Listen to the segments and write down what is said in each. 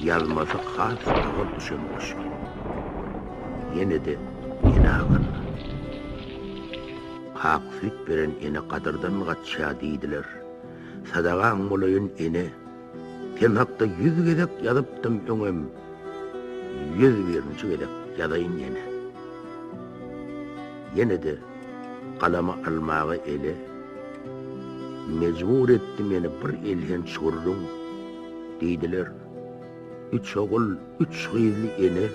Ýazmasy has agyr düşen goşgy. Ýene-de ene hakyna. Ak süýt beren ene gadyrdan gaçýar diýdiler. Sadagaň bolaýyn ene. Sen hakda ýüz gezek ýazypdym öňem. Ýüz birinji gezek ýazaýyn ýene. Ýene-de Galamy almaga ele mejbur etdi meni bir elhenç gürrüň, diýdiler. Üç ogul, üç gyzly ene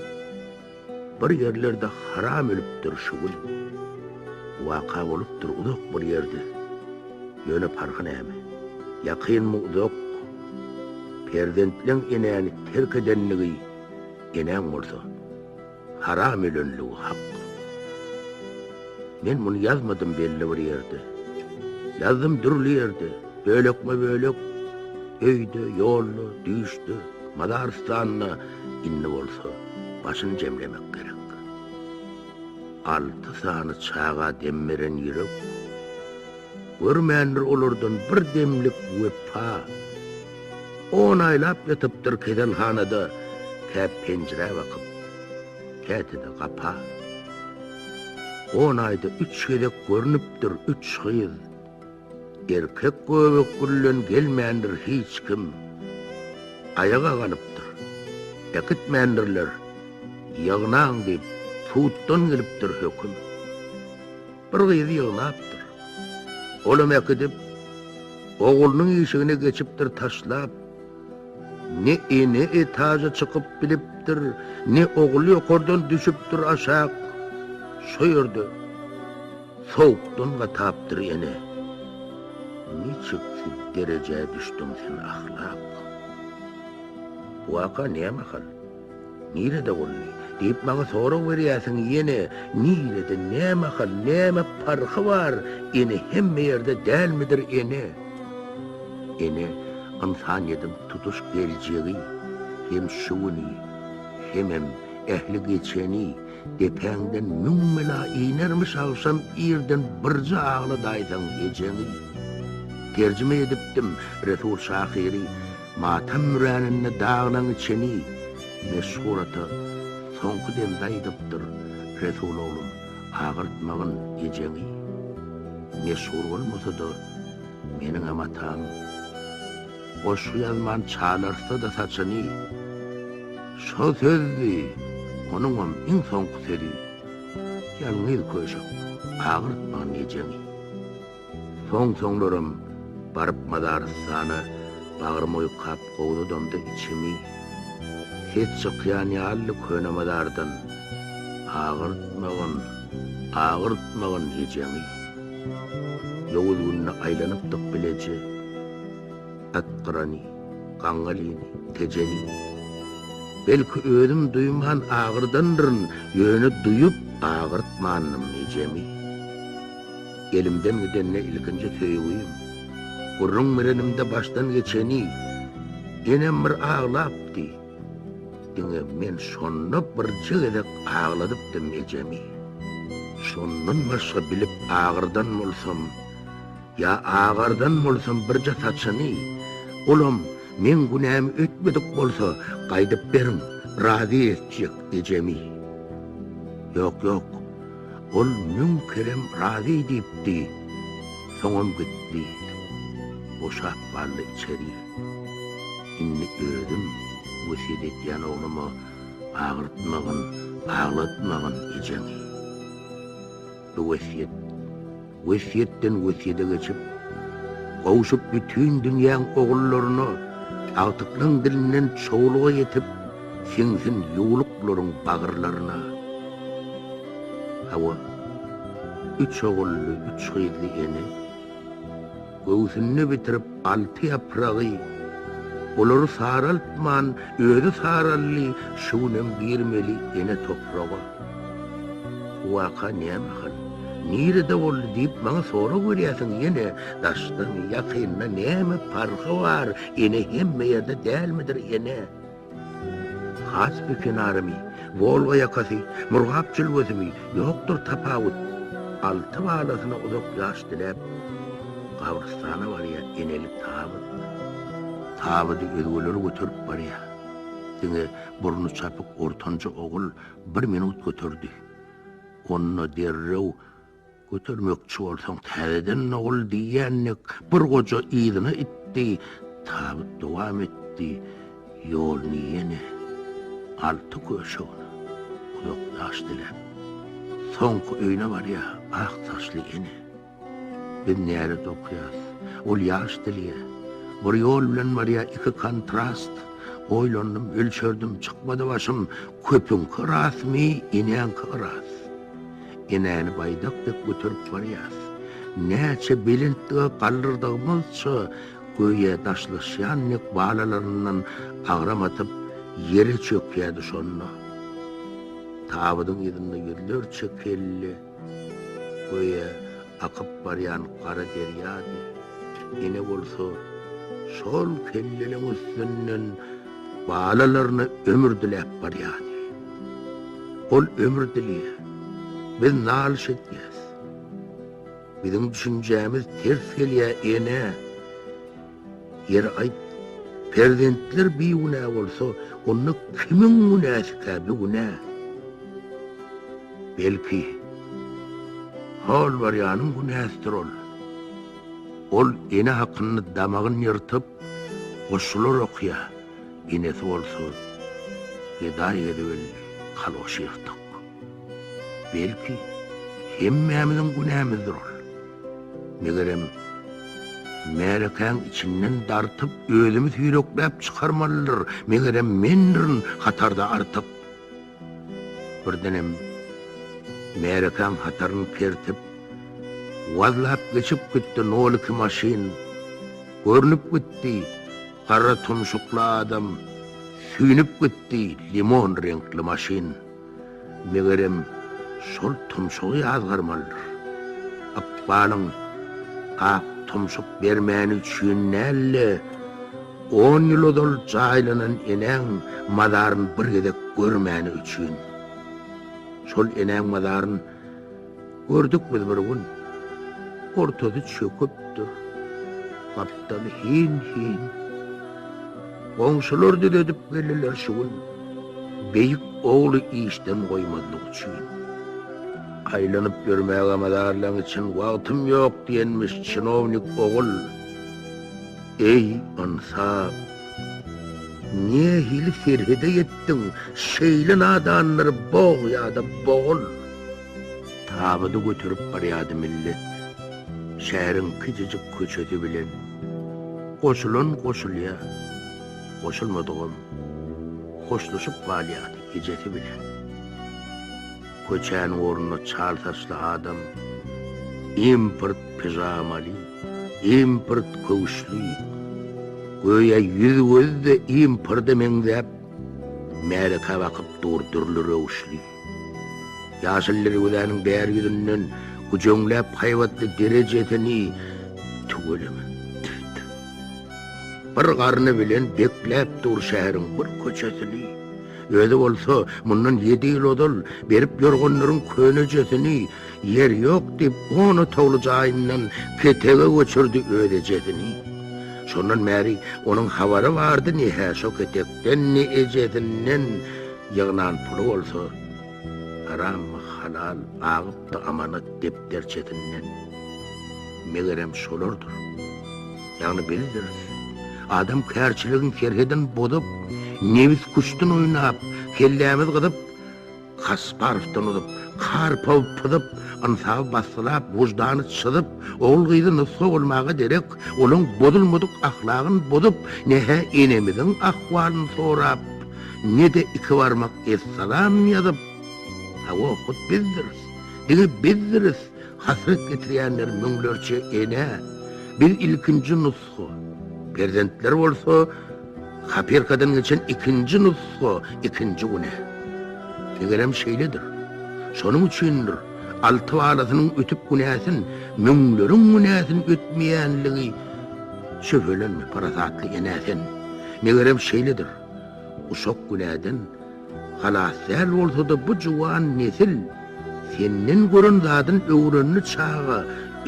bir ýerlerde haram ölüpdir şu gün. Waka bolupdyr uzak bir ýerde. Ýöne parhy näme? Ýakynmy uzak? Perzentleň enäni terk edenligi enäň bolsa. Haram ölenligi hak. Men muny ýazmadym belli bir ýerde. Ýazdym dürli ýerde, bölekme-bölek, öýde, ýolda, düýşde, mazarystanda, indi bolsa başyny jemlemek gerek. Alty sany çaga dem beren ýürek, görmändir olardan bir demlik wepa. On aýlap ýatypdyr keselhanada, kä penjirä bakyp, käte-de gapa. On aýda üç gezek görnüpdir üç gyz. Erkek göbek bilen gelmändir hiç kim. Aýaga galypdyr. Äkitmändirler. Ýygnaň diýip, tutdan gelipdir höküm. Bir gyzy ýygnapdyr. Olam äkidip, oglunyň işigine geçipdir taşlap. Ne ene etaja çykyp bilipdir, ne ogul ýokardan düşüpdir aşak. Şo ýerde sowukdan gatapdyr ene. Niçiksi derejä düşdüň sen ahlak? Bu waka näme hal? Nirede boldy? diýip maňa sorag berýärsiň, ýene nirede, nämahal, näme parhy bar, ene hemme ýerde dälmidir, ene? Ene, ynsan edip tutuş geljegi, hem şu güni, hemem ähli geçeni, depäňden müň bela inermiş agşam irden birje agladaýsaň ejeňi. Terjime edipdim, Resul şahyry. Matam müräninde daglaňy çeni meşhur ata soňky demde aýdypdyr, Resul oglum, agyrtmagyn ejeňi. Meşhur bolmasa-da, meniňem atam goşgy ýazman çalartsa-da saçyny. Şo sözdi onuňam iň soňky sözi, Ýalňyz köşek, agyrtmagyn ejeňi. Soň-soňlaram baryp Mazarystana bagrym oýkap gowzadamda içimi, ses çykýan ýalydy köne mazardan, Agyrtmagyn, agyrtmagyn ejeňi. Ýowuz günde aýlanypdyk bileje, Atgyrany, Gaňňalyny, Tejeni. Belki özüm duýman agyrdandyryn, ýöne duýup agyrtmandym ejemi. Elimden gidende ilkinji söýgim. Gürrüň berenimde başdan geçeni, Enem bir aglapdy. Diňe men şonda birje gezek agladypdym ejemi. Şondan başga bilip agyrdan bolsam, ýa agardan bolsam birje saçyny, olam meň günämi ötmedik bolsa, gaýdyp beriň, razy etjek ejemi. Ýok, ýok, Ol müň kerem razy diýipdi, soňam gitdi. Boşap galdy içeri. Indi özüm wesýet edýän ogluma agyrtmagyn, aglatmagyn ejeňi. Bu wesýet. Wesýetden wesýede geçip, gowşup bütin dünýäň ogullaryna agtyklaň dilinden çowluga ýetip, siňsin ýuwlup bularyň bagyrlaryna. Hawa, üç ogully, üç gyzly ene. Göwsünde bitirip alty ýapragy, Olary saraltman, özi saraldy, Şu günem girmeli ene topraga. Bu waka näme hal, nirede boldy diýip maňa sorag berýärsiň ýene, Daşdan, ýakyndan näme parhy bar, ene hemme ýerde dälmidir ene? Kaspi kenarymy, Wolga ýakasy, Murgap jülgesimi, ýokdur tapawut. Alty balasyna uzak ýaş diläp, gabrystana barýa eneli tabyt. Tabydy özgeleri göterip barýa. Diňe burny çapyk ortanjy ogul bir minut göterdi. Onda derrew Götermekçi bolsaň täzeden nogul diýýän dek bir goja yzyna itdi, tabyt dowam etdi, ýoluny ýene alty köşegine uzakdaş diläp, soňky öýüne barýar, ak saçly ene, Biz närede okaýas, ol ýaş dilýär, bir ýol bilen barýar iki kontrast, oýlandym, ölçerdim, çykmady başym, köpüňki rasmy, eneňki yras. Enäni baýdak dek göterip barýas. Näçe belentlige galdyrdygymyzça, göýä daşlaşýan dek balalaryndan agram atyp, ýere çökýärdi şonda. Tabydyň yzynda ýüzlerçe kelle, göýä akyp barýan gara derýady. Ene bolsa şol kelleleň üstünden Balalaryna ömür diläp barýardy. Ol ömür dileýär. Biz nalyş edýäs. Biziň düşünjämiz ters gelýär, ene. Ýeri aýt, perzentler bigünä bolsa, onda kimiň günäsikä bu günä? Belki, Holwarýanyň günäsidir ol. Ol ene hakynda damagyn ýyrtyp, goşgular okýar, enesi bolsa gedaý gezip elli kalgoş ýyrtyk. Belki, hemmämiziň günämizdir ol. Megerem, märekäň içinden dartyp, özümi süýrekläp çykarmalydyr, megerem, mendirin hatarda artyk. Birdenem märekäň hataryny kertip, wazlap geçip gitdi noliki maşyn. Görnüp gitdi, gara tumşukly adam, süýnüp gitdi, limon reňkli maşyn. Megerem, şol tumşugy ýazgarmalydyr. Ykbalyň ak tumşuk bermäni üçin däl-de. On ýyl ozal jaýlanan enäň mazaryny bir gezek görmäni üçin. Şol enäň mazaryn gördük biz bir gün. Ortasy çöküpdir. Gapdaly hin-hin. Goňşular düzedip geldiler şu gün. Beýik ogly işden goýmazlyk üçin. Aýlanyp ýörmäge mazarlaň için wagtym ýok diýenmiş çinownik ogul. Eý, Ansa! Nähili serhede ýetdiň, şeýle nadanlary bog ýa-da bogul! Tabydy göterip barýardy millet. Şäheriň kiçijik köçesi bilen. Goşulan goşulýar, goşulmadygam hoşlaşyp galýardy ejesi bilen. Köçäniň ornuna çal saçly adam, import pijamaly, import köwüşli, göýä ýüz-gözi-de importa meňzäp, märeke bakyp dur dürli röwüşli. Ýaşyl derwezäniň bäri ýüzünden güjeňläp haýbatly derejesini tüweleme, tüf-tüf. Bir garny bilen bekläp dur şäheriň bir köçesini. Özi bolsa, mundan ýedi ýyl ozal, berip ýorganlaryň könejesini, ýer ýok diýip, on otagly jaýyndan ketege göçürdi öz ejesini. Şondan bäri onuň habary bardy ne-hä şo ketekden, ne ejesinden. Ýygnan puly bolsa, harammy, halal, agypdy amanat depderçesinden. Megerem, şolardyr. Ýagny bildiris. Adam kärçiligiň serhedin bozup, nebis kuşdun oýnap, kellämiz gyzyp, Kasparowdan uzup, Karpow pyzyp, ynsaby bassylap, wyždany çyzyp, ogul-gyzy nusga bolmaga derek, olaň bozulmadyk ahlagyn bozup, ne-hä enemiziň ahwalyn sorap, ne-de iki barmak essalam ýazyp, hawa, hut bizdiris. Diňe bizdiris. Hasrat getirýänler müňlerçe enä, biz ilkinji nusga, perzentler bolsa kopirkadan geçen ikinji nusga, ikinji güne. Tegelem şeýledir. Şonuň üçindir, alty balasynyň ötüp günäsin, müňleriň günäsin ötmeýänligi Şübhelenme, parasatly enä sen. Megerem şeýledir. Uşak günäden Halas däl bolsada bu juwan nesil senden gören zadyn öwrendi çaga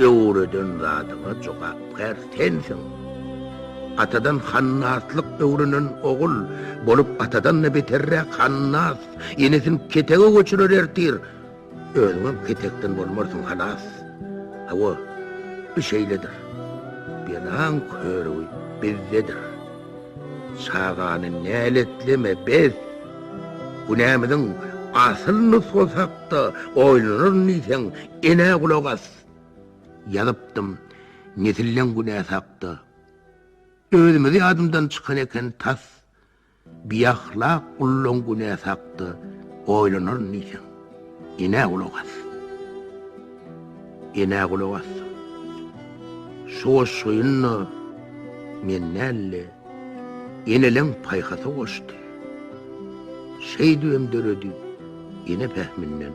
öwreden zadyňa jogapkär sensiň atadan hannaslyk öwrenen ogul bolup atadan da beterräk hannas enesini ketege göçürer ertir Özüňem ketekden bolmarsyň halas. Hawa, bu şeýledir. Belaň körügi bizdedir. Çagany näletleme, bes! Günämiziň asyl nusgasy hakda oýlanaryn diýseň, enä gulak as! Ýazypdym nesilleň günäsi hakda. Özümizi ýadymdan çykan eken tas. Biahlak gullaň günäsi hakda oýlanaryn diýseň, enä gulak as. Enä gulak assaň, şu goşgyny-da men däl-de, eneleň paýhasy goşdy. Şeýdibem döredi, ene pähiminden.